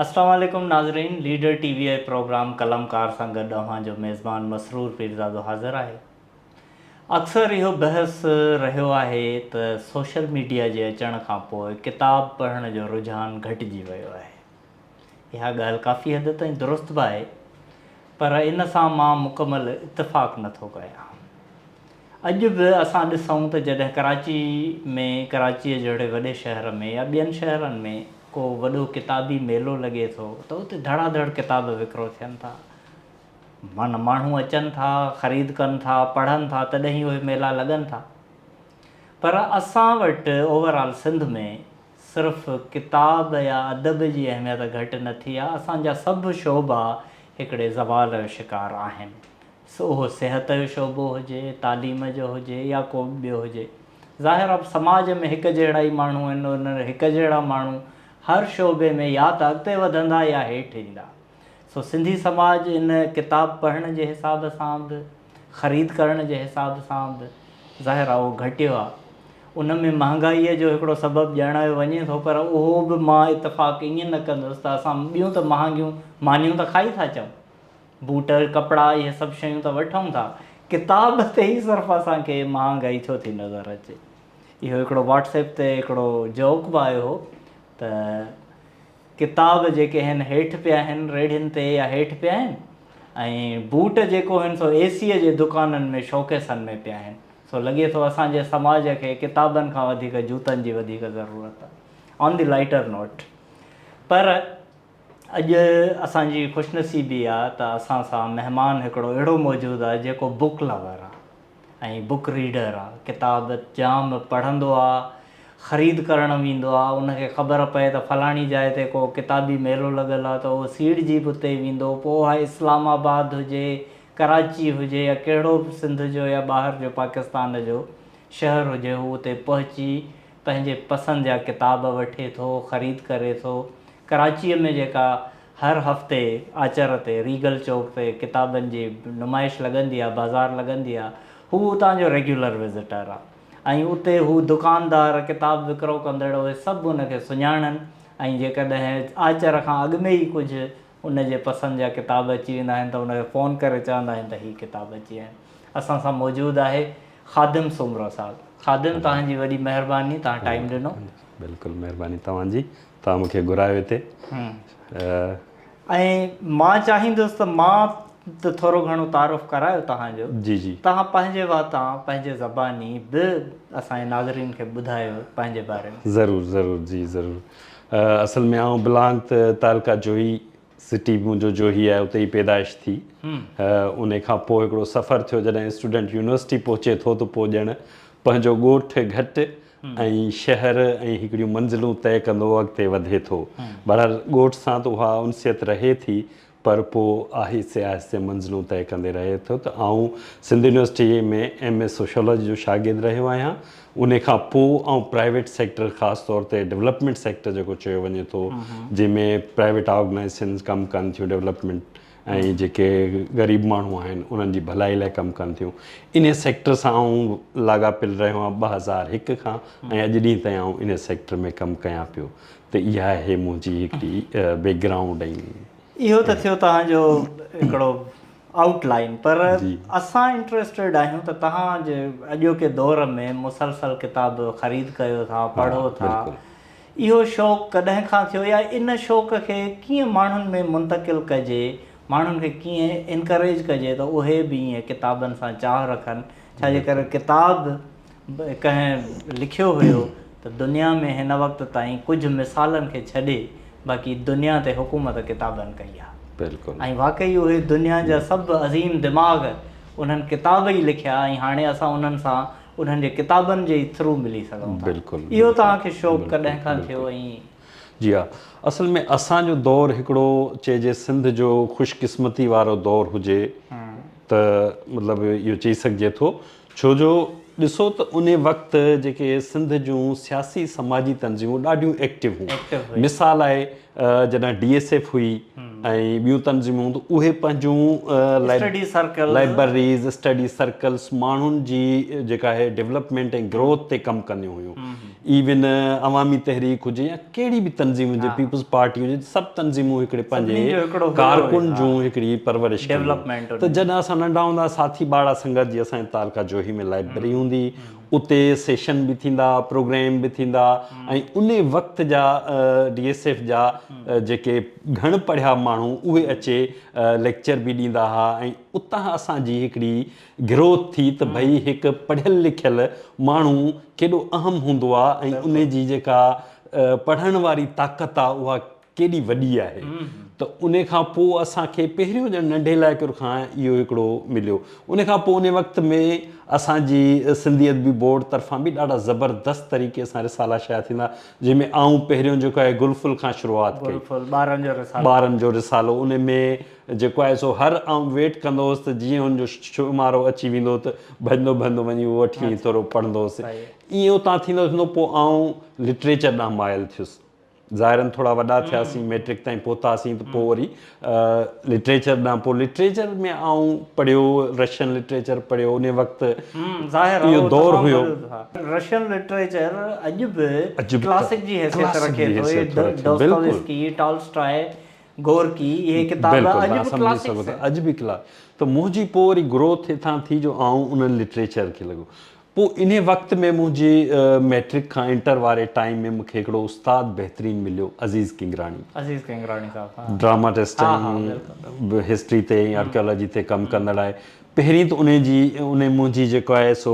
السلام عليڪم ناظرين ليڊر ٽي وي آء پروگرام قلم ڪار سان گڏ اوهان جو ميزبان مسرور پيرزادو حاضر آهي اڪثر اهو بحث رهيو آهي ته سوشل ميڊيا جي اچڻ کان پوء ڪتاب پڙهڻ جو رجحان گهٽجي ويو آهي اها ڳالهه ڪافي حد تائين درست به آهي، پر ان سان مان مڪمل اتفاق نه ٿو ڪريان. اڄ به اسان ڏسون ته جڏهن ڪراچي ۾ ڪراچيء جهڙي وڏي شهر ۾ يا ٻين شهرن ۾ ڪو وڏو ڪتابي ميلو لڳي ٿو ته اتي ڌڙا ڌڙ ڪتاب وڪرو ٿين ٿا. من ماڻهو اچن ٿا، خريد ڪن ٿا، پڙهن ٿا تڏهن ئي اهي ميلا لڳن ٿا. پر اسان وٽ اوورآل سنڌ ۾ صرف ڪتاب يا ادب جي اهميت گهٽ نه ٿي آهي، اسان جا سڀ شعبا هڪڙي زوال جو شڪار آهن، سو اهو صحت جو شعبو هجي، تعليم جو هجي يا ڪو به ٻيو هجي. ظاهر آهي سماج ۾ هڪ جهڙا ئي ماڻهو آهن، انهن هڪ جهڙا ماڻهو هر شعبي ۾ يا ته اڳتي وڌندا يا هيٺ ايندا. سو سنڌي سماج ان ڪتاب پڙهڻ جي حساب سان به خريد ڪرڻ جي حساب سان به ظاهر آهي اهو گهٽيو آهي ان ۾ مهانگائيء جو هڪڙو سبب ڄاڻايو وڃي ٿو پر اهو به مان اتفاق ائين نه ڪندس ته اسان ٻيون ته مهانگيون مانيون ته کائي ٿا اچون بوٽ ڪپڙا اهي سڀ شيون ته وٺون ٿا ڪتاب تي ئي صرف اسان کي مهانگائي ڇو ٿي نظر اچي اهو هڪڙو واٽس ايپ تي هڪڙو جوڪ به آيو هو ته ڪتاب جيڪي هن هيٺ پيا آهن ريڙهين تي يا هيٺ پيا آهن ۽ بوٽ جيڪو هن سو اي سيء جي دڪانن ۾ شوڪيسن ۾ پيا آهن سو لڳي ٿو اسان جي سماج کي ڪتابن کان وڌيڪ جوتن جي وڌيڪ ضرورت آهي آن دي لائيٽر نوٽ پر اڄ اسان جي خوشنصيبي آهي ته اسان سان مهمان هڪڙو اهڙو موجود آهي جيڪو بوڪ لور آهي ۽ بوڪ ريڊر آ ڪتاب جام پڙهندو آ خريد ڪرڻ ويندو آ ان کي خبر پئي ته فلاڻي جاء تي ڪو ڪتابي ميلو لڳل آ ته اهو سيڙجي به اتي ويندو پوء اهي اسلام آباد هجي ڪراچي هجي يا ڪهڙو به سنڌ جو يا ٻاهر جو پاڪستان جو شهر هجي هو اتي پهچي پنهنجي پسند جا ڪتاب وٺي ٿو، خريد ڪري ٿو. ڪراچيء ۾ جيڪا هر هفتي آچر تي ريگل چوڪ تي ڪتابن جي نمائش لڳندي آ، بازار لڳندي آ، هو اتان جو ريگيولر وزٽر آ ۽ اتي هو دڪاندار، ڪتاب وڪرو ڪندڙ اهي سڀ هن کي سڃاڻن ۽ جيڪڏهن آچر کان اڳ ۾ ئي ڪجهه ان جي پسند جا ڪتاب اچي ويندا آهن ته ان کي فون ڪري چوندا آهيون ته هي ڪتاب اچي ويا آهن. اسان سان موجود آهي خادم سومرو صاحب. خادم توهان جي وڏي مهرباني توهان ٽائيم ڏنو. بلڪل مهرباني توهان جي توهان مون کي گهرايو هتي. ۽ مان چاهيندس ته مان ته ٿورو گهڻو تعارف ڪرايو توهان جو. جي جي. توهان پنهنجي واتان پنهنجي زباني به اسان جي ناظرين کي ٻڌايو پنهنجي باري ۾. ضرور ضرور جي ضرور. اصل ۾ آئون بلانگ ته تعلقه جوهي سٽي منهنجو جوهي آهي اتي ئي پيدائش ٿي ان کان پوء هڪڙو سفر ٿيو جڏهن اسٽوڊنٽ يونيورسٽي پهچي ٿو ته پوء ڄڻ پنهنجو ڳوٺ گهٽ ۽ شهر ۽ هڪڙيون منزلون طئي ڪندو اڳتي وڌي ٿو بهرحال ڳوٺ سان ته اها انسيت رهي ٿي پر پوء آهستي آهستي منزلون طئي ڪندي رهي ٿو ته آئون سنڌ يونيورسٽيء ۾ ايم اي سوشيالاجي جو شاگرد رهيو آهيان. انهيء کان پوء آئون پرائيويٽ سيڪٽر خاص طور تي ڊولپمينٽ سيڪٽر جيڪو چيو وڃي ٿو جنهن ۾ پرائيويٽ آرگنائيزيشنز ڪم ڪن ٿيون ڊولپمينٽ ۽ جيڪي غريب ماڻهو آهن انهن جي ڀلائي لاء ڪم ڪن ٿيون. انهيء سيڪٽر سان آئون لاڳاپيل رهيو آهيان ٻه هزار هڪ کان ۽ اڄ ڏينهن تائين آئون انهيء سيڪٽر ۾ ڪم ڪيان پيو. ته اها آهي منهنجي هڪڙي بيڪ گرائونڊ ۽ اهو ته ٿيو توهان جو هڪڙو آئوٽ لائين پر اسان انٽرسٽيڊ آهيون ته توهان جي اڄوڪي دور ۾ مسلسل ڪتاب خريد ڪيو ٿا پڙهو ٿا اهو شوق ڪڏهن کان ٿيو يا ان شوق کي ڪيئن ماڻهن ۾ منتقل ڪجي ماڻهن کي ڪيئن انڪريج ڪجي ته اهي به ائين ڪتابن سان چاهه رکن ڇا جي ڪري ڪتاب ڪنهن لکيو هيو ته دنيا ۾ هن وقت تائين ڪجهه مثالن کي ڇڏي باقي دنيا تي حڪومت ڪتابن ڪئي آهي بلڪل ۽ واقعي اهي دنيا جا سڀ عظيم دماغ انهن ڪتاب ئي لکيا ۽ هاڻي اسان انهن سان انهن جي ڪتابن جي ئي ٿرو ملي سگهون ٿا بلڪل اهو توهان کي شوق ڪڏهن کان ٿيو ۽ جي ها اصل ۾ اسان جو دور هڪڙو چئجي سنڌ جو خوش قسمتي وارو دور هجي ته مطلب اهو چئي سگهجي ٿو ڇو جو ڏسو ته ان وقت جيڪي سنڌ جون سياسي سماجي تنظيمون ڏاڍيون ايڪٽو هيون مثال آهي جڏهن ڊي ايس ايف هئي ۽ ٻيون تنظيمون ته اهي پنهنجون لائبرريز اسٽڊي سرڪلس ماڻهن جي جيڪا آهي ڊيولپمينٽ ۽ گروٿ تي ڪم ڪنديون هيون ايون عوامي تحريڪ هجي يا ڪهڙي به تنظيم هجي پيپلز پارٽي هجي سڀ تنظيمون هڪڙي پنهنجي ڪارڪن جون هڪڙي پرورش ڊيولپمينٽ ته جڏهن اسان ننڍا هوندا ساٿي ٻاڙا سنگت جي اسان جي تعلقه جوهي ۾ لائبرري هوندي اتي سيشن به ٿيندا پروگرام به ٿيندا ۽ ان وقت جا ڊي ايس ايف جا جيڪي گهڻ پڙهيا ماڻهو اهي اچي ليڪچر به ڏيندا هئا ۽ اتان اسان جي هڪڙي گروٿ ٿي ته ڀئي هڪ پڙهيل لکيل ماڻهو ڪيڏو اهم هوندو آ ۽ ان جي جيڪا پڙهڻ واري طاقت آ اها ڪيڏي وڏي آهي ته ان کان پوء اسان کي پهريون ڄڻ ننڍي لائڪر کان اهو هڪڙو مليو ان کان پوء ان وقت ۾ اسان جي سنڌي ادبي بورڊ طرفان به ڏاڍا زبردست طريقي سان رسالا شايع ٿيندا جنهن ۾ آئون پهريون جيڪو آهي گل ڦل کان شروعات ڪئي ٻارن جو رسالو ان ۾ جيڪو آهي سو هر آئون ويٽ ڪندو هوس ته جيئن ان جو شمارو اچي ويندو ته ڀڄندو ڀڄندو وڃي اهو وٺي ۽ ٿورو پڙهندو هوس. ائين اتان ٿيندو ٿيندو پوء آئون لٽريچر ڏانهن مائل ٿيس. ظاهراً ٿورا وڏا ٿياسين، مئٽرڪ تائين پهتاسين ته پوء وري لٽريچر ڏانهن پوء لٽريچر ۾ آئون پڙهيو، رشين لٽريچر پڙهيو انهي وقت اهو دور هيو. رشين لٽريچر اڄ به ڪلاسڪ جي حيثيت رکي ٿو. Dostoevsky, Tolstoy. گورڪي اهي ڪتاب اڄ به ڪلاسڪس آهن. اڄ به ڪلا ته منهنجي پوء وري گروٿ اتان ٿي جو آئون انهن لٽريچر کي لڳو. پوء انهي وقت ۾ منهنجي مئٽرڪ کان انٽر واري ٽائيم ۾ مونکي هڪڙو استاد بهترين مليو عزيز ڪنگراڻي. عزيز ڪنگراڻي صاحب ها. ڊراماٽسٽ ها ها بلڪل. ۽ هسٽري تي ۽ آرڪيالاجي تي ڪم ڪندڙ آهي. پهرين ته انهي جي انهي منهنجي جيڪو آهي سو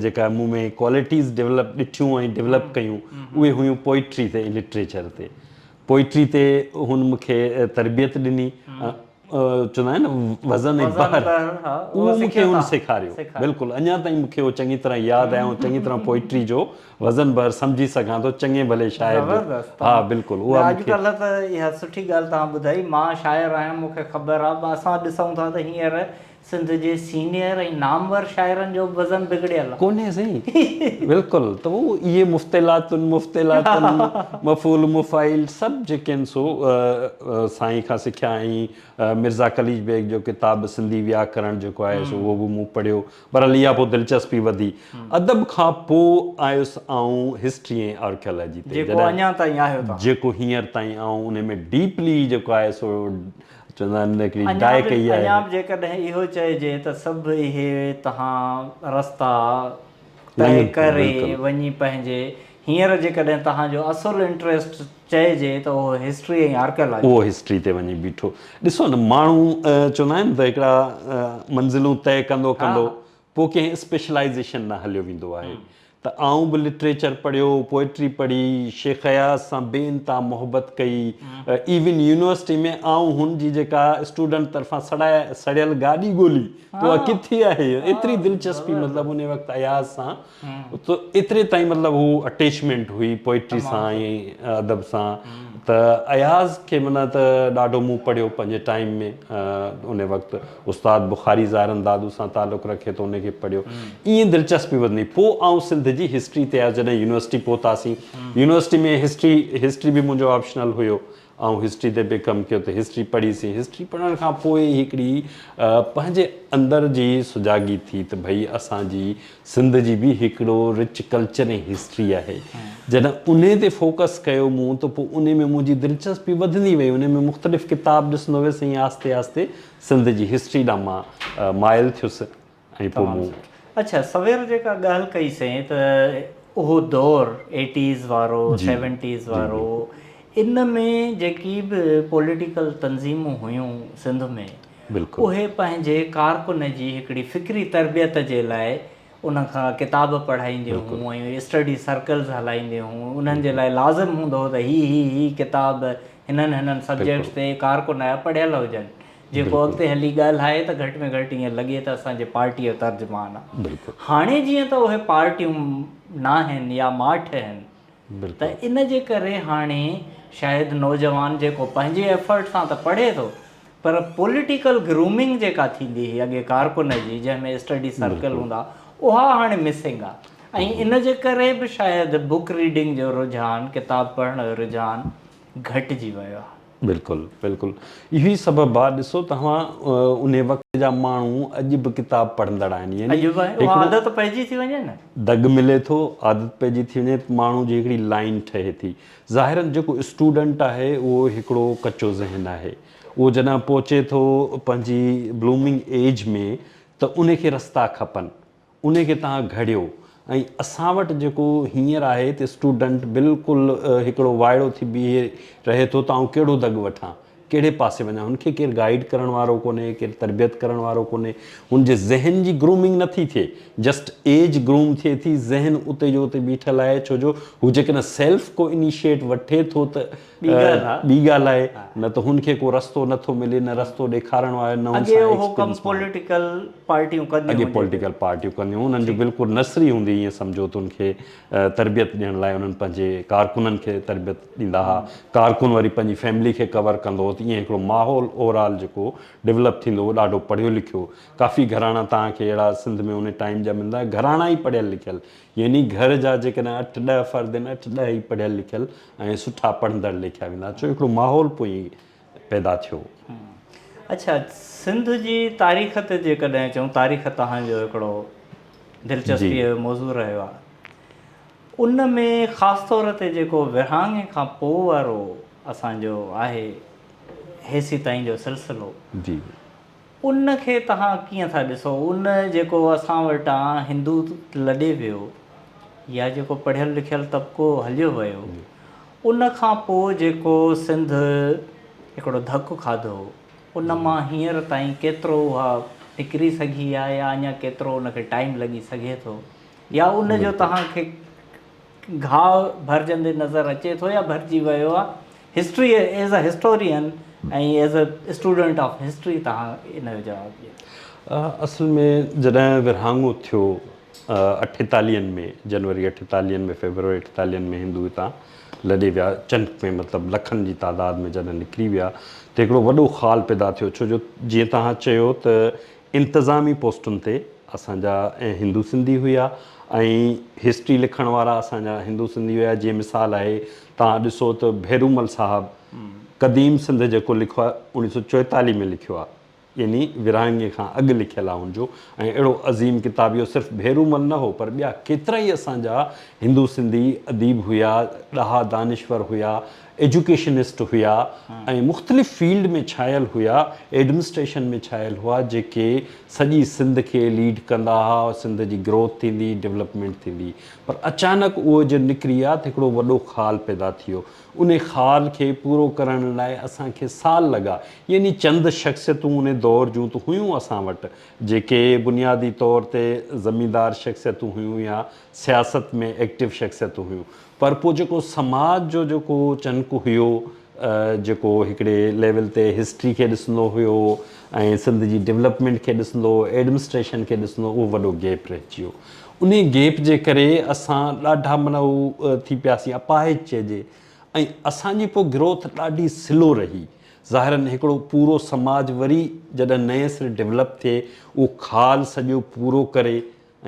جيڪا مون ۾ ڪوالٽيز ڊيولپ ڏٺيون ۽ ڊيولپ ڪيون اهي هيون پوئٽري تي ۽ لٽريچر تي. پوئٽري تي هن مون کي تربيت ڏني چوندا آهن وزن ۽ بحر اهو مون کي هن سيکاريو بلڪل اڃا تائين مون کي اهو چڱي طرح ياد آهي آئون چڱي طرح پوئٽري جو وزن بحر سمجهي سگهان ٿو چڱي ڀلي شاعر جو ها بلڪل اها مون کي اڄ ڪلهه ته اها سٺي ڳالهه توهان ٻڌائي مان شاعر آهيان مون کي خبر آهي اسان ڏسون ٿا ته هينئر سنڌ جي سينئر ۽ نامور شاعرن جو به وزن بگڙيل آ. ڪونهي سائين بلڪل ته هو اهي مفتعلاتن مفتعلاتن مفعول مفاعيل سڀ جيڪي آهن سو سائين کان سکيا ۽ مرزا قليچ بيگ جو ڪتاب سنڌي وياڪرڻ جيڪو آهي سو اهو به مون پڙهيو بهرحال اها پوء دلچسپي وڌي ادب کان پوء آيس آئون هسٽري ۽ آرڪيالاجي تي جيڪو اڃا تائين آهيو توهان. جيڪو هينئر تائين آئون انهي ۾ ڊيپلي جيڪو آهي سو اڃا به اڃا به جيڪڏهن اهو چئجي ته سڀ اهي تهان رستا طئي ڪري وڃي پنهنجي هينئر جيڪڏهن تهان جو اصل انٽريسٽ چئجي ته اهو هسٽري ۽ آرڪيالاجي. اهو هسٽري تي وڃي بيٺو. ڏسو نه ماڻهو چوندا آهن ته هڪڙا منزلون طئي ڪندو ڪندو پوء ڪنهن اسپيشلائيزيشن ڏانهن هليو ويندو آهي ته آئون به لٽريچر پڙهيو، پوئٽري پڙهي، شيخ اياز سان بي انتها محبت ڪئي، ايون يونيورسٽي ۾ آئون هن جي جيڪا اسٽوڊنٽ طرفان سڙيل گاڏي ڳولي ته اها ڪٿي آهي، ايتري دلچسپي مطلب ان وقت اياز سان ته ايتري تائين مطلب هو اٽيچمينٽ هئي پوئٽري سان ۽ ادب سان ته اياز کي معنيٰ ته ڏاڍو مون پڙهيو پنهنجي ٽائيم ۾ ان وقت. استاد بخاري زارن دادو سان تعلق رکي ٿو ان کي پڙهيو ائين دلچسپي وڌندي پوء آئون سنڌ جي هسٽري تي آيس جڏهن يونيورسٽي پهتاسين يونيورسٽي ۾ هسٽري هسٽري به منهنجو آپشنل هيو آئون هسٽري تي به ڪم ڪيو ته هسٽري پڙهي سين هسٽري پڙهڻ کان پوء هڪڙي پنهنجي اندر جي سجاڳي ٿي ته ڀئي اسان جي سنڌ جي به هڪڙو رچ ڪلچر ۽ هسٽري آهي جڏهن انهي تي فوڪس ڪيو مون ته پوء انهي ۾ منهنجي دلچسپي وڌندي وئي انهي ۾ مختلف ڪتاب ڏسندو ويس ائين آهستي آهستي سنڌ جي هسٽري ڏانهن مان مائل ٿيس ۽ پوء مون اڇا سوير جيڪا ڳالهه ڪئي سائين ته اهو دور ايٽيز وارو سيونٽيز وارو ان ۾ جيڪي به پوليٽيڪل تنظيمون هيون سنڌ ۾ بلڪل. اهي پنهنجي ڪارڪن جي هڪڙي فڪري تربيت جي لاء ان کان ڪتاب پڙهائينديون بلڪل. هيون ۽ اسٽڊي سرڪلز هلائينديون هيون انهن جي لاء لازم هوندو هو ته هي هي هي ڪتاب هنن هنن سبجيڪٽس بلڪل. تي ڪارڪن آيا پڙهيل هجن جيڪو بلڪل. اڳتي هلي ڳالهائي ته گهٽ ۾ گهٽ ائين لڳي ته اسان جي پارٽيء جو ترجمان آ. بلڪل. هاڻي جيئن ته اهي پارٽيون ناهن يا ماٺ هن. ته ان جي ڪري هاڻي شايد نوجوان جيڪو پنهنجي ايفرٽ سان ته پڙهي ٿو پر پوليٽيڪل گرومنگ جيڪا ٿيندي هئي اڳي ڪارڪن جي جنهن ۾ اسٽڊي سرڪل هوندا اها هاڻي مسنگ آ ۽ ان جي ڪري به شايد بوڪ ريڊنگ جو رجحان ڪتاب پڙهڻ جو رجحان گهٽجي ويو آ. بلڪل بلڪل اهو ئي سبب آ ڏسو توهان انهي وقت جا ماڻهو اڄ به ڪتاب پڙهندڙ آهن يعني اڄ به اها عادت پئجي ٿي وڃي نه. دڳ ملي ٿو عادت پئجي ٿي وڃي ماڻهو جي هڪڙي لائين ٺهي ٿي ظاهرا جيڪو اسٽوڊنٽ آهي اهو هڪڙو ڪچو ذهن آهي اهو جڏهن پهچي ٿو پنهنجي بلومنگ ايج ۾ ته انهي کي رستا کپن انهي کي توهان گهڙيو ۽ اسان وٽ جيڪو هينئر آهي ته اسٽوڊنٽ بلڪل هڪڙو وائڙو ٿي بيهي رهي ٿو ته آئون ڪهڙو دڳ وٺان، ڪهڙي پاسي وڃان، هن کي ڪير گائيڊ ڪرڻ وارو ڪونهي، ڪير تربيت ڪرڻ وارو ڪونهي، هن جي ذهن جي گرومنگ نه ٿي ٿئي، جسٽ ايج گروم ٿئي ٿي، ذهن اتي جو اتي بيٺل آهي ڇو جو هو جيڪڏهن سيلف ڪو انيشيٽ وٺي ٿو ته ٻي ڳالهه آهي نه ته هن کي ڪو رستو نه ٿو ملي نه رستو ڏيکارڻ وارو آهي نه هن سان ايڪسپيرينس ماڻهو اڳي اهو ڪم پوليٽيڪل پارٽيون ڪنديون اڳي پوليٽيڪل پارٽيون ڪنديون انهن جو بلڪل نسري هوندي هئي ايئن سمجهو ته ان کي تربيت ڏيڻ لاء انهن پنهنجي ڪارڪنن کي تربيت ڏيندا هئا ڪارڪن وري پنهنجي فيملي کي ڪور ڪندو هو ته ايئن هڪڙو ماحول اوورآل جيڪو ڊولپ ٿيندو هو ڏاڍو پڙهيو لکيو ڪافي گهراڻا توهان کي اهڙا سنڌ ۾ ان ٽائيم جا ملندا گهراڻا ئي پڙهيل لکيل يعني گهر جا جيڪڏهن اٺ ڏهه فرد آهن، اٺ ڏهه ئي پڙهيل لکيل ۽ سٺا پڙهندڙ ليکيا ويندا، ڇو هڪڙو ماحول پوء پيدا ٿيو. اڇا سنڌ جي تاريخ تي جيڪڏهن چئون، تاريخ توهان جو هڪڙو دلچسپيء جو موضوع رهيو آهي، ان ۾ خاص طور تي جيڪو ورهاڱي کان پوء وارو اسان جو آهي هيسي تائين جو سلسلو، ان کي توهان ڪيئن ٿا ڏسو؟ ان جيڪو اسان وٽان هندو لڏي ويو يا جيڪو پڙهيل لکيل طبقو هليو ويو ان کان پوء جيڪو سنڌ هڪڙو ڌڪ کاڌو ان مان هينئر تائين ڪيترو اها نڪري سگهي آهي يا اڃا ڪيترو ان کي ٽائيم لڳي سگهي ٿو يا ان جو توهان کي گهاء ڀرجندي نظر اچي ٿو يا ڀرجي ويو آ history as a historian ۽ as a student of history توهان ان جو جواب ڏيو. اصل ۾ جڏهن ورهاڱو ٿيو اٺيتاليهن ۾ جنوري اٺيتاليهن ۾ فيبروري اٺيتاليهن ۾ هندو هتان لڏي ويا چنڪ ۾ مطلب لکن جي تعداد ۾ جڏهن نڪري ويا ته هڪڙو وڏو خال پيدا ٿيو ڇو جو جيئن توهان چيو ته انتظامي پوسٽن تي اسان جا ۽ هندو سنڌي هيا ۽ هسٽري لکڻ وارا اسان جا هندو سنڌي هيا جيئن مثال آهي توهان ڏسو ته ڀيرومل صاحب قديم سنڌ جيڪو لکيو آهي اوڻي سو چوئيتاليهه ۾ لکيو آهي يعني ورهاڱي کان اڳ لکيل آهي ان جو ۽ اهڙو عظيم ڪتاب اهو صرف ڀيرومل نه هو پر ٻيا ڪيترائي اسان جا هندو سنڌي اديب هيا ڏاها دانشور هيا ايجوڪيشنسٽ هيا ۽ مختلف فيلڊ ۾ ڇانيل هيا، ايڊمنسٽريشن ۾ ڇانيل هئا جيڪي سڄي سنڌ کي ليڊ ڪندا ها، سنڌ جي گروٿ ٿيندي، ڊولپمينٽ ٿيندي پر اچانڪ اهو جڏهن نڪري ويا ته هڪڙو وڏو خال پيدا ٿيو، انهي خال کي پورو ڪرڻ لاء اسان کي سال لڳا يعني چند شخصيتون انهي دور جون ته هيون اسان وٽ جيڪي بنيادي طور تي زميندار شخصيتون هيون يا سياست ۾ ايڪٽو شخصيتون هيون پر پوء جيڪو سماج جو جيڪو چنڪ هيو جيڪو هڪڙي ليول تي هسٽري کي ڏسندو هيو ۽ سنڌ جي ڊولپمينٽ کي ڏسندو هو ايڊمسٽريشن کي ڏسندو اهو وڏو گيپ رهجي ويو انهي گيپ جي ڪري اسان ڏاڍا من هو ٿي پياسين اپاهج چئجي ۽ اسان جي پوء گروٿ ڏاڍي سلو رهي ظاهرن هڪڙو پورو سماج وري جڏهن نئين سري ڊولپ ٿئي اهو خال سڄو پورو ڪري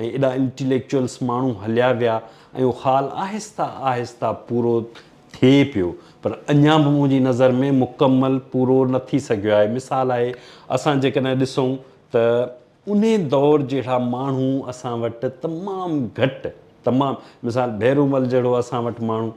۽ ايڏا انٽيليڪچوئلس ماڻهو هليا ويا ۽ اهو خال آهسته آهسته پورو ٿئي پيو پر اڃا به منهنجي نظر ۾ مڪمل پورو نه ٿي سگهيو آهي. مثال آهي اسان جيڪڏهن ڏسون ته انهي دور جهڙا ماڻهو اسان وٽ تمام گهٽ تمام مثال ڀيرومل جهڙو اسان وٽ ماڻهو.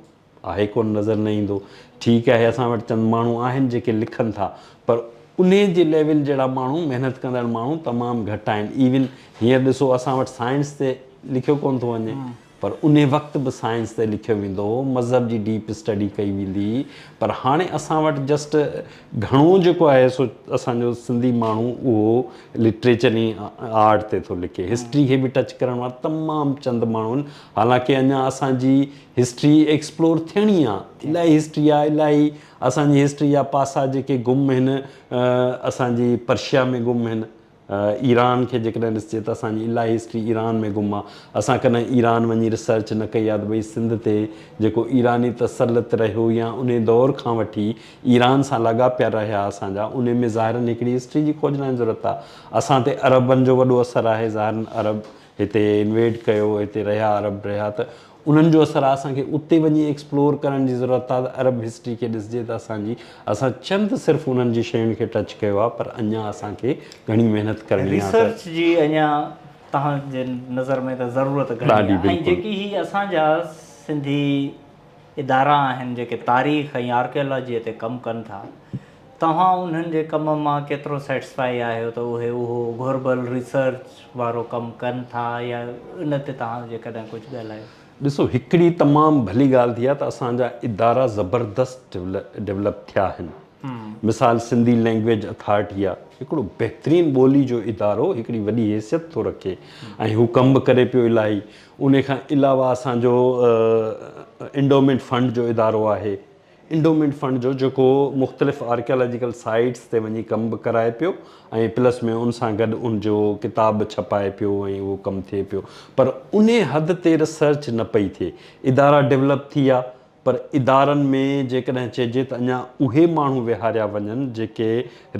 آهي ڪونه نظر نه ايندو. ٺيڪ آهي اسان وٽ چند ماڻهو آهن جيڪي لکن ٿا پر انهي جي ليول جهڙا ماڻهو محنت ڪندڙ ماڻهو تمام گهٽ آهن ايون هينئر ڏسو اسان وٽ سائنس تي لکيو ڪونه ٿو وڃي پر انهي وقت به سائنس تي لکيو ويندو هو مذهب جي ڊيپ اسٽڊي ڪئي ويندي هئي پر هاڻي اسان وٽ جسٽ گهڻو جيڪو آهي سو اسان جو سنڌي ماڻهو اهو لٽريچر ۽ آرٽ تي ٿو لکي هسٽري کي به ٽچ ڪرڻ وارا تمام چند ماڻهو آهن حالانڪه اڃا اسان جي هسٽري ايڪسپلور ٿيڻي آ الاهي هسٽري آ الاهي اسان جي هسٽري جا پاسا جيڪي گم هن اسان جي پرشيا ۾ گم هن ايران کي جيڪڏهن ڏسجي ته اسان جي الاهي هسٽري ايران ۾ گم آ اسان ڪڏهن ايران وڃي ريسرچ نه ڪئي آ ته ڀئي سنڌ تي جيڪو ايراني تسلط رهيو يا انهي دور کان وٺي ايران سان لاڳاپيا رهيا اسان جا انهي ۾ ظاهرن هڪڙي هسٽري جي کوجنا جي ضرورت آ اسان تي عربن جو وڏو اثر آهي ظاهرن عرب هتي انويڊ ڪيو هتي رهيا عرب رهيا ته انهن جو اثر آهي اسان کي اتي وڃي ايڪسپلور ڪرڻ جي ضرورت آهي ته عرب هسٽري کي ڏسجي ته اسان جي اسان چند صرف انهن جي شين کي ٽچ ڪيو آهي پر اڃان اسان کي گهڻي محنت ڪرڻي آهي ته ريسرچ جي اڃان تهان جي نظر ۾ ته ضرورت گهڻي آهي ۽ جيڪي هي اسان جا سنڌي ادارا آهن جيڪي تاريخ ۽ آرڪيالاجي تي ڪم ڪن ٿا توهان انهن جي ڪم مان ڪيترو سيٽسفائي آهيو ته اهي اهو گهربل ريسرچ وارو ڪم ڪن ٿا يا ان تي توهان جيڪڏهن ڪجهه ڳالهايو. ڏسو هڪڙي تمام ڀلي ڳالهه ٿي آهي ته اسان جا ادارا زبردست ڊولپ ٿيا آهن مثال سنڌي لينگويج اٿارٽي آهي هڪڙو بهترين ٻولي جو ادارو هڪڙي وڏي حيثيت ٿو رکي ۽ هو ڪم به ڪري پيو الاهي ان کان علاوه اسان جو انڊومينٽ فنڊ جو ادارو آهي انڊومينٽ فنڊ جو جيڪو مختلف آرڪيالاجيڪل سائيٽس تي وڃي ڪم به ڪرائي پيو ۽ پلس ۾ ان سان گڏ ان جو ڪتاب به ڇپائي پيو ۽ اهو ڪم ٿئي پيو پر انهي حد تي ريسرچ نه پئي ٿئي ادارا ڊولپ ٿي ويا پر ادارن ۾ جيڪڏهن چئجي ته اڃا اهي ماڻهو ويهاريا وڃن جيڪي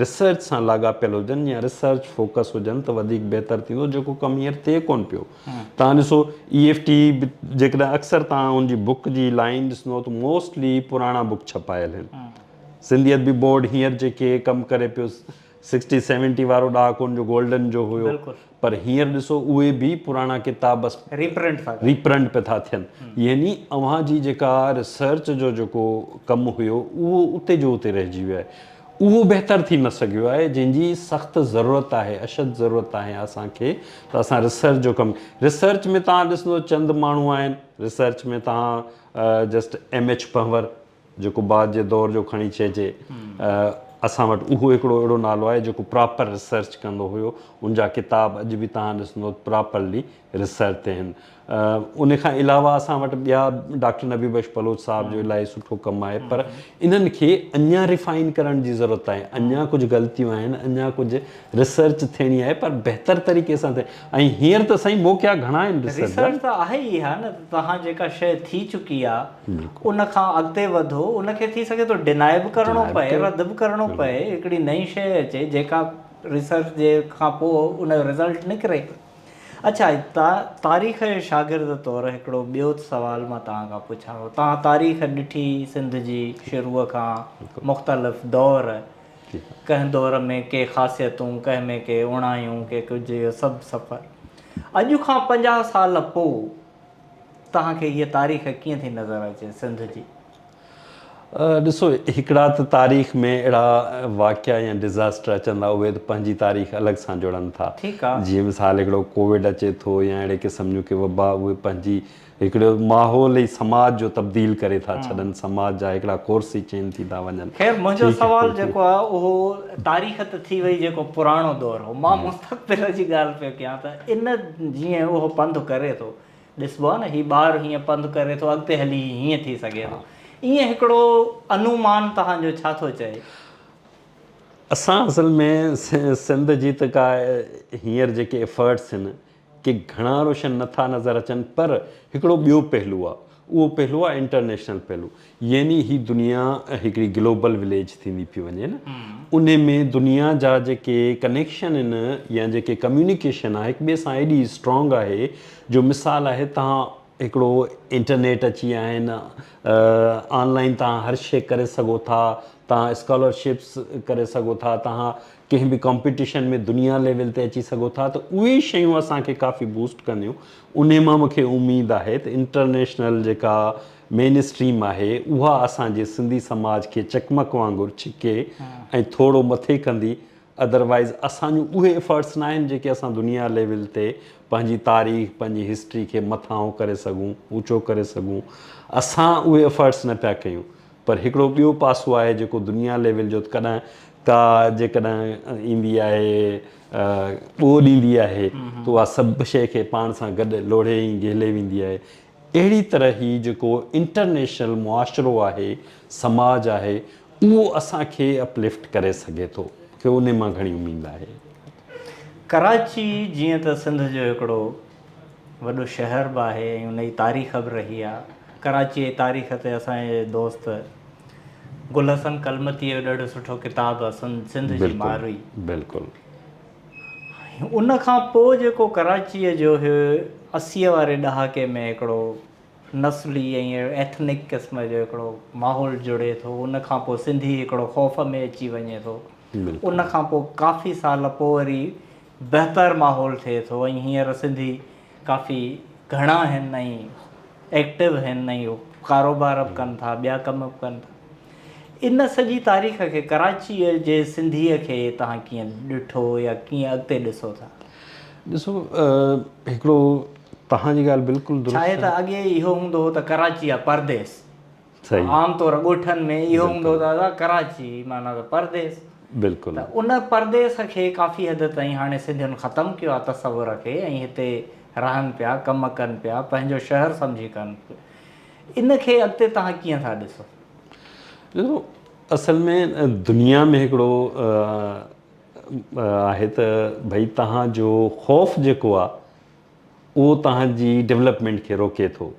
ريسرچ سان لاڳاپيل هجن يا ريسرچ فوڪس هجن ته وڌيڪ بهتر ٿيندو جيڪو ڪم هينئر ٿئي ڪونه پيو. تان ڏسو اي ايف ٽي به جيڪڏهن اڪثر تان ان جي بوڪ جي لائين ڏسندو ته موسٽلي پراڻا بوڪ ڇپايل هن سنڌي ادبي بورڊ هينئر جيڪي ڪم ڪري پيو سڪسٽي سيونٽي وارو ڏهاڪو ان جو گولڊن جو هيو پر هينئر ڏسو اهي به پراڻا ڪتاب بس ريپرنٽ پي ٿا ٿين يعني اوهان جي جيڪا ريسرچ جو جيڪو ڪم هيو اهو اتي جو اتي رهجي ويو آهي. اهو بهتر ٿي نه سگهيو آهي جنهن جي سخت ضرورت آهي اشد ضرورت آهي اسان کي ته اسان ريسرچ جو ڪم ريسرچ ۾ توهان ڏسندو چند ماڻهو آهن ريسرچ ۾ توهان جسٽ ايم ايڇ پنهور جيڪو بعد جي دور جو کڻي چئجي اسان وٽ اهو هڪڙو اهڙو نالو آهي جيڪو پراپر ريسرچ ڪندو هيو ان جا ڪتاب اڄ به توهان ڏسندو پراپرلي ريسرچ تي آهن ان کان علاوه اسان وٽ ٻيا ڊاڪٽر نبي بخش بلوچ صاحب جو الاهي سٺو ڪم آهي پر انهن کي اڃا ريفائن ڪرڻ جي ضرورت آهي اڃا ڪجهه غلطيون آهن اڃا ڪجهه ريسرچ ٿيڻي آهي پر بهتر طريقي سان ٿي ۽ هينئر ته سائين موقعا گهڻا آهن ريسرچ جا ريسرچ ته آهي ئي ها نه ته توهان جيڪا شيء ٿي چڪي آهي ان کان اڳتي وڌو ان کي ٿي سگهي ٿو ڊيناء به ڪرڻو پئي رد به ڪرڻو پئي هڪڙي نئين شيء اچي جيڪا ريسرچ جي کان پوء ان جو ريزلٽ نڪري اڇا تا تاريخ جي شاگرد طور هڪڙو ٻيو سوال مان توهان کان پڇان ٿو توهان تاريخ ڏٺي سنڌ جي شروع کان مختلف دور ڪنهن دور ۾ ڪي خاصيتون ڪنهن ۾ ڪي اوڻايون ڪي ڪجهه اهو سڀ سفر اڄ کان پنجاهه سال پو توهان کي هيء تاريخ ڪيئن ٿي نظر اچي سنڌ جي ڏسو هڪڙا ته تاريخ ۾ اهڙا واقعا يا ڊزاسٽر اچن ٿا اهي ته پنهنجي تاريخ الڳ سان جڙن ٿا جيئن مثال هڪڙو ڪووڊ اچي ٿو يا اهڙي قسم جون ڪي وبا اهي پنهنجي هڪڙو ماحول ۽ سماج جو تبديل ڪري ٿا ڇڏن سماج جا هڪڙا ڪورس ئي چينج ٿي ٿا وڃن. خير منهنجو سوال جيڪو آهي اهو تاريخ ته ٿي وئي جيڪو پراڻو دور هو مان مستقبل جي ڳالهه پيو ڪيان ته ان جيئن اهو پنڌ ڪري ٿو ڏسبو آهي نه هي ٻار هيئن پنڌ ڪري ٿو اڳتي هلي هي هيئن ٿي سگهي ٿو ايئن هڪڙو انومان توهان جو ڇا ٿو چئي؟ اسان اصل ۾ سنڌ جي ته ڪا هينئر جيڪي ايفرٽس آهن ڪي گهڻا روشن نه ٿا نظر اچن پر هڪڙو ٻيو پهلو آهي اهو پهلو آهي انٽرنيشنل پهلو يعني هي دنيا هڪڙي گلوبل وليج ٿيندي پيئي وڃي نه ان ۾ دنيا جا جيڪي ڪنيڪشن ان يا جيڪي ڪميونيڪيشن آ هڪ ٻئي سان ايڏي اسٽرانگ آهي جو مثال آهي تهان هڪڙو انٽرنيٽ اچي آهن آن لائين تهان هر شي ڪري سگهو ٿا تهان اسڪالر شپس ڪري سگهو ٿا تهان ڪنهن به ڪمپيٽيشن ۾ دنيا ليول تي اچي سگهو ٿا ته اهي شيون اسان کي ڪافي بوسٽ ڪنديون ان مان مونکي اميد آهي ته انٽرنيشنل جيڪا مين اسٽريم آهي اها اسان جي سنڌي سماج کي چقمق وانگر ڇڪي ۽ ٿورو مٿي ڪندي ادروائز اسان جون اهي افرٽس ناهن جيڪي اسان دنيا ليول تي پنهنجي تاريخ پنهنجي هسٽري کي مٿانهون ڪري سگهون اوچو ڪري سگهون اسان اهي افرٽس نه پيا ڪيون پر هڪڙو ٻيو پاسو آهي جيڪو دنيا ليول جو ڪڏهن ڪا جيڪڏهن ايندي آهي ٻوڏ ايندي آهي ته اها سڀ شيء کي پاڻ سان گڏ لوڙهي ۽ گهلي ويندي آهي اهڙي طرح هي جيڪو انٽرنيشنل معاشرو آهي، سماج آهي، اهو اسان کي اپ لفٽ ڪري سگهي ٿو، مون کي انهي مان گهڻي اميد آهي. ڪراچي جيئن ته سنڌ جو هڪڙو وڏو شهر به آهي ۽ ان جي تاريخ به رهي آهي. ڪراچيء جي تاريخ تي اسان جي دوست گل حسن ڪلمتيء جو ڏاڍو سٺو ڪتاب آهي سنڌ جي مارئي. بلڪل. ان کان پوء جيڪو ڪراچيء جو هي اسيء واري ڏهاڪي ۾ هڪڙو نسلي ۽ ايٿنڪ قسم جو هڪڙو ماحول جڙي ٿو ان کان پوء سنڌي هڪڙو خوف ۾ اچي وڃي ٿو ان کان پوء ڪافي سال پوء وري بهتر ماحول ٿئي ٿو ۽ هينئر سنڌي ڪافي گهڻا آهن ۽ ايڪٽو آهن ۽ هو ڪاروبار به ڪن ٿا ٻيا ڪم به ڪن ٿا ان سڄي تاريخ کي ڪراچيء جي سنڌيء کي توهان ڪيئن ڏٺو يا ڪيئن اڳتي ڏسو ٿا؟ ڏسو هڪڙو توهان جي ڳالهه بلڪل درست آهي. ڇا آهي ته اڳي اهو هوندو هو ته ڪراچي آ پرديس. عام طور ڳوٺن ۾ اهو هوندو ته ادا ڪراچي معنيٰ ته پرديس. بلڪل. ته ان پرديس کي ڪافي حد تائين هاڻي سنڌين ختم ڪيو آهي تصور کي ۽ هتي رهن پيا ڪم ڪن پيا پنهنجو شهر سمجهي ڪن ان کي اڳتي تهان ڪيئن ٿا ڏسو؟ ڏسو اصل ۾ دنيا ۾ هڪڙو آهي ته ڀئي تهان جو خوف جيڪو آهي اهو توهان جي ڊولپمينٽ کي روڪي ٿو.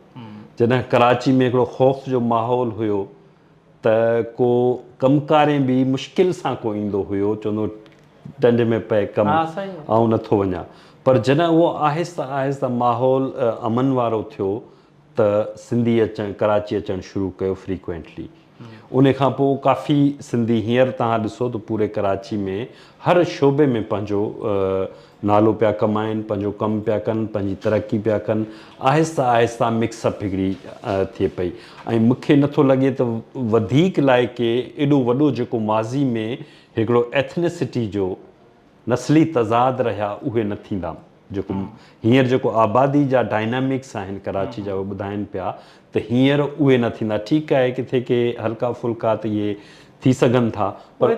جڏهن ڪراچي ۾ هڪڙو خوف جو ماحول هيو ته ڪو ڪم ڪارين به مشڪل سان ڪو ايندو هيو چوندو ڊنڊ ۾ پئي ڪم آئون نٿو وڃان پر جڏهن اهو آهسته آهسته ماحول امن وارو ٿيو ته سنڌي اچڻ ڪراچي اچڻ شروع ڪيو فريڪوينٽلي ان کان پوء ڪافي سنڌي هينئر توهان ڏسو ته پوري ڪراچي ۾ هر شعبي ۾ پنهنجو نالو پيا ڪمائن پنهنجو ڪم پيا ڪن پنهنجي ترقي پيا ڪن آهسته آهسته مڪس اپ هڪڙي ٿئي پئي ۽ مونکي نٿو لڳي ته وڌيڪ لاء ڪي ايڏو وڏو جيڪو ماضي ۾ هڪڙو ايٿنيسٽي جو نسلي تضاد رهيا اهي نه ٿيندا. جيڪو هينئر جيڪو آبادي جا ڊائنامڪس آهن ڪراچي جا اهي ٻڌائن پيا ته هينئر اهي نه ٿيندا ٺيڪ آهي ڪٿي ڪي هلڪا ڦلڪا ته اهي ٿي سگهن ٿا پر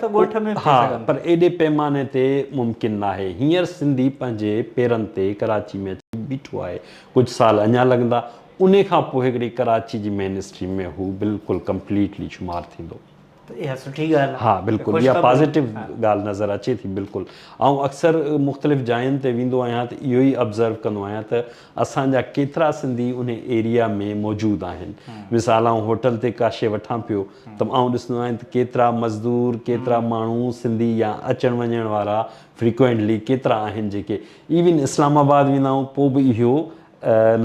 ها پر ايڏي پيماني تي ممڪن ناهي هينئر سنڌي پنهنجي پيرن تي ڪراچي ۾ اچي بيٺو آهي ڪجهه سال اڃا لڳندا انهي کان پوء هڪڙي ڪراچي جي مين اسٽريم ۾ هو بلڪل ڪمپليٽلي شمار ٿيندو. ته اها سٺي ڳالهه آهي. ها بلڪل اها پازيٽو ڳالهه نظر اچي ٿي بلڪل آئون اڪثر مختلف جاين تي ويندو آهيان ته اهو ئي ابزرو ڪندو آهيان ته اسان جا ڪيترا سنڌي انهي ايريا ۾ موجود آهن مثال آئون هوٽل تي ڪا شي وٺان پيو ته آئون ڏسندو آهيان ته ڪيترا مزدور ڪيترا ماڻهو سنڌي يا اچڻ وڃڻ وارا فريڪوئنٽلي ڪيترا آهن جيڪي ايون اسلام آباد ويندا آهون پوء به اهو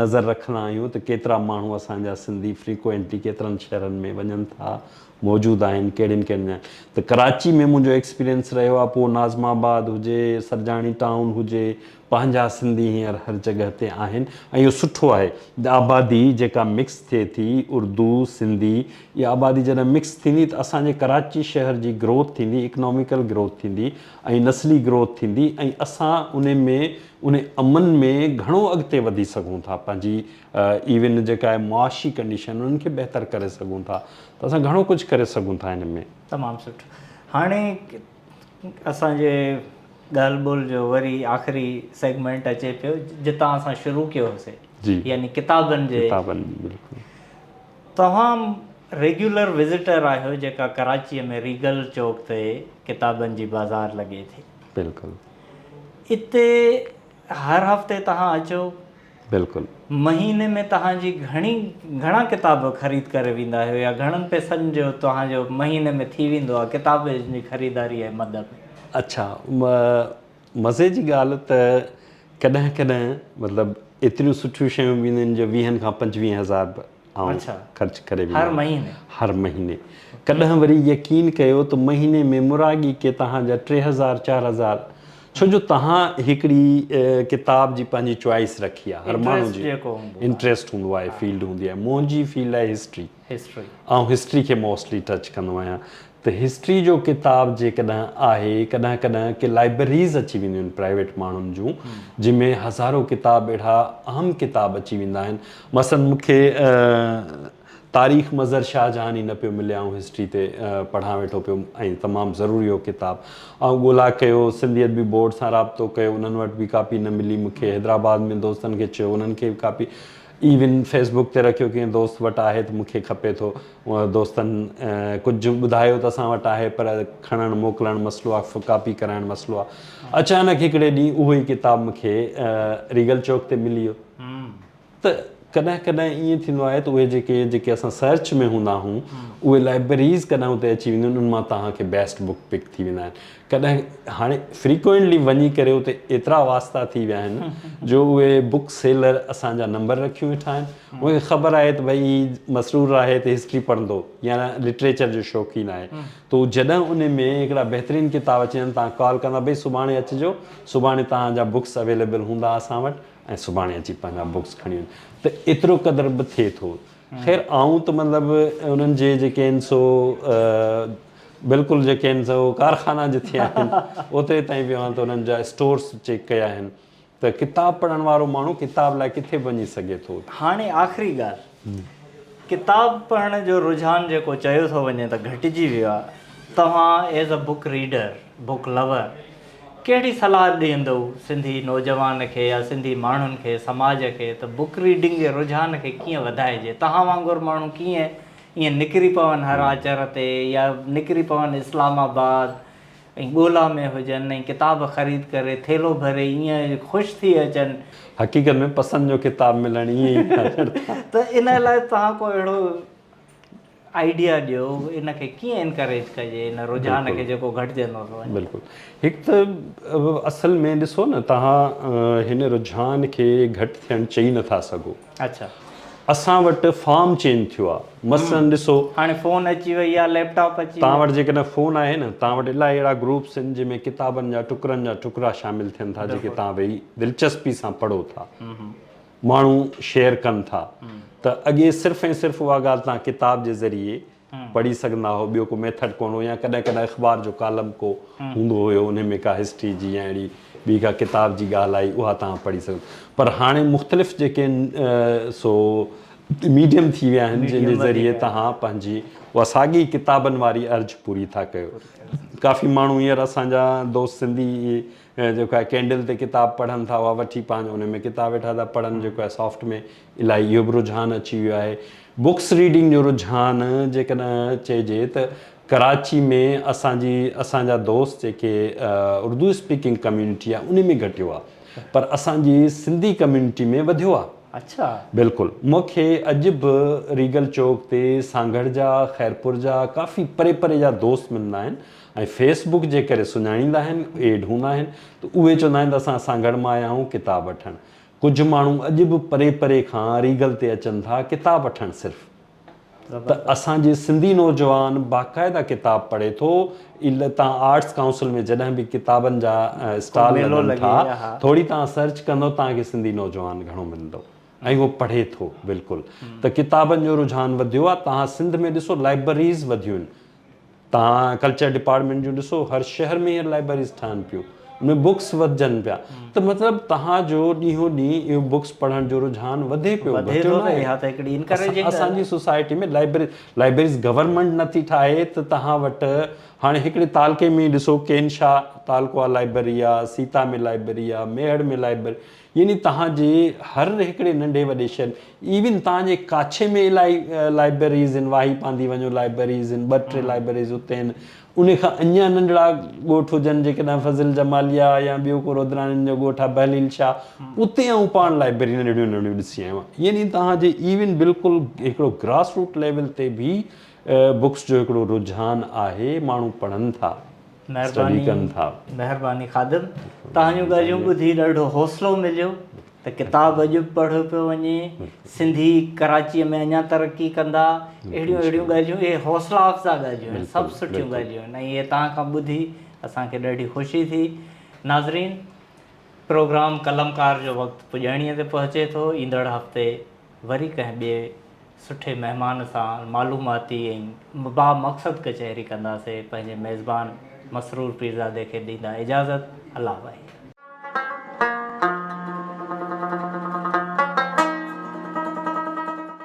نظر رکندا آهيون ته ڪيترا ماڻهو اسان جا سنڌي فريڪوئنٽلي ڪيترن شهرن ۾ وڃن ٿا، موجود آهن، ڪهڙين ڪهڙين جاين ته ڪراچي ۾ منهنجو ايڪسپيرينس رهيو آهي، پوء ناظم آباد هجي، سرجاڻي ٽائون هجي، پنهنجا سنڌي هينئر هر جڳهه تي آهن ۽ اهو سٺو آهي. آبادي جيڪا مڪس ٿئي ٿي، اردو، سنڌي، اها آبادي جڏهن مڪس ٿيندي ته اسان جي ڪراچي شهر جي گروٿ ٿيندي، اڪناميڪل گروٿ ٿيندي، ۽ نسلي گروٿ ٿيندي ۽ اسان ان ۾ ان امن ۾ گهڻو اڳتي وڌي سگهون ٿا پنهنجي ايون جيڪا آهي معاشي ڪنڊيشن انهن کي بهتر ڪري سگهون ٿا ته اسان گهڻو ڪجهه ڪري سگهون ٿا ان ۾. تمام سٺو هاڻي اسان جي ڳالهه ٻولهه جو وري آخري سيگمينٽ اچي پيو جتان اسان شروع ڪيو هوسي يعني ڪتابن جي ڪتابن بلڪل. توهان ريگيولر وزيٽر آهيو جيڪا ڪراچيء ۾ ريگل چوڪ تي ڪتابن جي بازار لڳي ٿي. بلڪل. اتي هر هفتي توهان اچو. بلڪل. مهيني ۾ توهان جي گهڻي گهڻا ڪتاب خريد ڪري ويندا آهيو يا گهڻن پئسن جو توهان جو مهيني ۾ ٿي ويندو آهي ڪتابن جي خريداري ۽ مد ۾. اڇا. مزي جي ڳالهه ته ڪڏهن ڪڏهن مطلب ايتريون سٺيون شيون به اينديون آهن جو ويهن کان پنجويهن هزار به آئون خرچ ڪري ويندو آهيان هر مهيني هر مهيني ڪڏهن وري يقين ڪيو ته مهيني ۾ مراڳي ڪي توهان جا ٽي هزار چار هزار ڇو جو توهان هڪڙي ڪتاب جي پنهنجي چوائس رکي آهي هر ماڻهو جي انٽريسٽ هوندو آهي فيلڊ هوندي آهي منهنجي فيلڊ آهي هسٽري هسٽري. آئون هسٽري کي موسٽلي ٽچ ڪندو آهيان ته هسٽري جو ڪتاب جيڪڏهن آهي ڪڏهن ڪڏهن ڪي لائبرريز اچي وينديون آهن پرائيويٽ ماڻهن جون جن ۾ هزارو ڪتاب اهڙا اهم ڪتاب اچي ويندا آهن مثلاً مون کي تاريخ مظهر شاهه جهان ئي نه پيو ملي آئون هسٽري تي پڙهان ويٺو پيم ۽ تمام ضروري هو ڪتاب آئون ڳولا ڪيو سنڌي ادبي بورڊ سان رابطو ڪيو انهن وٽ به ڪاپي نه ملي مون کي حيدرآباد ۾ دوستن کي چيو انهن کي به ڪاپي ايون فيس بڪ تي رکيو ڪنهن دوست وٽ آهي ته مون کي کپي ٿو اهو دوستن ڪجهه ٻڌايو ته اسان وٽ آهي پر کڻڻ موڪلڻ مسئلو آهي فوٽوڪاپي ڪرائڻ مسئلو آهي اچانڪ هڪڙي ڏينهن اهو ئي ڪتاب مون کي ريگل چوڪ تي ملي ويو ته ڪڏهن ڪڏهن ائين ٿيندو آهي ته اهي جيڪي جيڪي اسان سرچ ۾ هوندا آهون اهي لائبريز ڪڏهن اتي اچي وينديون آهن ان مان توهان کي بيسٽ بڪ پڪ ٿي ويندا آهن ڪڏهن هاڻي فريڪوئنٽلي وڃي ڪري اتي ايترا واسطا ٿي ويا آهن جو اهي بڪ سيلر اسان جا نمبر رکيون ويٺا آهن انهن کي خبر آهي ته ڀئي مسرور آهي ته هسٽري پڙهندو يا لٽريچر جو شوقين آهي ته هو جڏهن ان ۾ هڪڙا بهترين ڪتاب اچي ويندا تان ڪال ڪندا ڀئي سڀاڻي اچجو سڀاڻي توهان جا بڪس اويليبل هوندا اسان وٽ ۽ سڀاڻي اچي پنهنجا بڪس کڻي وڃ ته ايترو قدر به ٿئي ٿو خير آئون ته مطلب انهن جي جيڪي آهن سو بلڪل جيڪي آهن سو ڪارخانا جتي آهن اوتري تائين به اوهان ته انهن جا اسٽورس چيڪ ڪيا آهن ته ڪتاب پڙهڻ وارو ماڻهو ڪتاب لاء ڪٿي وڃي سگهي ٿو. هاڻي آخري ڳالهه ڪتاب پڙهڻ جو رجحان جيڪو چيو ٿو وڃي ته گهٽجي ويو آهي توهان as a book reader book lover ڪهڙي صلاح ڏيندئو سنڌي نوجوان کي يا سنڌي ماڻهن کي سماج کي ته بوڪ ريڊنگ جي رجحان کي ڪيئن وڌائجي توهان وانگر ماڻهو ڪيئن ائين نڪري پون هر آچر تي يا نڪري پون اسلام آباد ۽ ڳولا ۾ هجن ۽ ڪتاب خريد ڪري ٿيلهو ڀري ائين خوش ٿي اچن. حقيقت ۾ پسند جو ڪتاب ملڻ ائين ئي ٿيندڙ ٿا. ته ان لاء توهان ڪو اهڙو آئيڊيا ڏيو ان کي ڪيئن انڪريج ڪجي ان رجحان کي جيڪو گهٽجندو ٿو وڃي. بلڪل هڪ ته اصل ۾ ڏسو نه توهان هن رجحان کي گهٽ ٿيڻ چئي نٿا سگهو. اچا اسان وٽ فارم چينج ٿيو آ مثلاً ڏسو. هاڻي فون اچي وئي آ ليپ ٽاپ اچي ويا. توهان وٽ جيڪڏهن فون آهي نه توهان وٽ الائي اهڙا گروپس ان جنهن ۾ ڪتابن جا ٽڪرن جا ٽڪرا شامل ٿين ٿا جيڪي توهان ويهي دلچسپي سان پڙهو ٿا ماڻهو شيئر ڪن ٿا ته اڳي صرف ۽ صرف اها ڳالهه توهان ڪتاب جي ذريعي پڙهي سگهندا هئو ٻيو ڪو ميٿڊ ڪونه هو يا ڪڏهن ڪڏهن اخبار جو ڪالم ڪو هوندو هيو انهي ۾ ڪا هسٽري جي يا اهڙي ٻي ڪا ڪتاب جي ڳالهه آئي اها توهان پڙهي سگهو پر هاڻي مختلف جيڪي سو ميڊيم ٿي ويا آهن جن جي ذريعي توهان پنهنجي اها ساڳي ڪتابن واري ارج پوري ٿا ڪيو ڪافي ماڻهو هينئر اسان جا دوست سنڌي ۽ جيڪو آهي ڪينڊل تي ڪتاب پڙهن ٿا اها وٺي پنهنجو ان ۾ ڪتاب ويٺا ٿا پڙهن جيڪو آهي سافٽ ۾ الائي اهو به رجحان اچي ويو آهي بڪس ريڊنگ جو رجحان جيڪڏهن چئجي ته ڪراچي ۾ اسان جي اسان جا دوست جيڪي اردو اسپيڪنگ ڪميونٽي آهي ان ۾ گهٽيو آهي پر اسان جي سنڌي ڪميونٽي ۾ وڌيو آهي اڇا بلڪل مونکي اڄ به ريگل چوڪ تي سانگهڙ جا خيرپور جا ڪافي پري پري جا دوست ملندا آهن ۽ فيس بوڪ جي ڪري سڃاڻيندا آهن، ايڊ هوندا آهن ته اهي چوندا آهن ته اسان سانگهڙ مان آيا آهيون ڪتاب وٺڻ. ڪجهه ماڻهو اڄ به پري پري کان ريگل تي اچن ٿا ڪتاب وٺڻ صرف ته اسان جي سنڌي نوجوان باقاعده ڪتاب پڙهي ٿو ايل تان آرٽس ڪائونسل ۾ جڏهن به ڪتابن جا اسٽال لڳن ٿا ٿوري تان سرچ ڪندو تان کي سنڌي نوجوان گهڻو ملندو ۽ هو پڙهي ٿو بلڪل ته ڪتابن جو رجحان وڌيو آهي تان سنڌ ۾ ڏسو لائبرريز وڌيون توهان ڪلچر ڊپارٽمينٽ جون ڏسو هر شهر ۾ هينئر لائبريريز ٺهن پيون ان ۾ بڪس وڌجن پيا ته مطلب توهان جو ڏينهون ڏينهن اهو بڪس پڙهڻ جو رجحان وڌي پيو وڌي ٿو نه اها ته هڪڙي انڪريجنگ ڳالهه اسان جي سوسائٽي ۾ لائبريري لائبريريز گورنمينٽ نٿي ٺاهي ته توهان وٽ هاڻي هڪڙي تعلقي ۾ ئي ڏسو ڪين شاهه تعلقو آ لائبريري آ سيتا ۾ لائبريري آ ميهڙ ۾ لائبريري يعني توهان جي هر هڪڙي ننڍي وڏي شهر ايون توهان جي ڪاڇي ۾ الائي لائبريريز هن واهي پاندي وڃو لائبريريز هن ٻه ٽي لائبريريز اتي هن انهي کان اڃان ننڍڙا ڳوٺ هجن جيڪڏهن فضل جماليا يا ٻيو ڪو رودراڻين جو ڳوٺ آهي بهليل شاهه اتي آئون پاڻ لائبريري ننڍڙيون ننڍڙيون ڏسي آيو آهيان يعني توهان جي ايون بلڪل هڪڙو گراس روٽ ليول تي به بوڪس جو هڪڙو رجحان آهي ماڻهو پڙهن ٿا اسٽڊي ڪن ٿا. مهرباني مهرباني خادم توهان جون ڳالهيون ٻڌي ڏاڍو حوصلو مليو ته ڪتاب اڄ به پڙهيو پيو وڃي سنڌي ڪراچي ۾ اڃا ترقي ڪندا اهڙيون اهڙيون ڳالهيون اهي حوصلا افزا ڳالهيون آهن سڀ سٺيون ڳالهيون آهن ۽ اهي توهان کان ٻڌي اسان کي ڏاڍي خوشي ٿي ناظرين پروگرام قلمڪار جو وقت پڄاڻيء تي پهچي ٿو ايندڙ هفتي وري ڪنهن ٻئي سٺي مهمان سان معلوماتي ۽ بامقصد ڪچهري ڪنداسي پنهنجي ميزبان مسرور پيرزادي کي ڏيندا اجازت الله وحيد.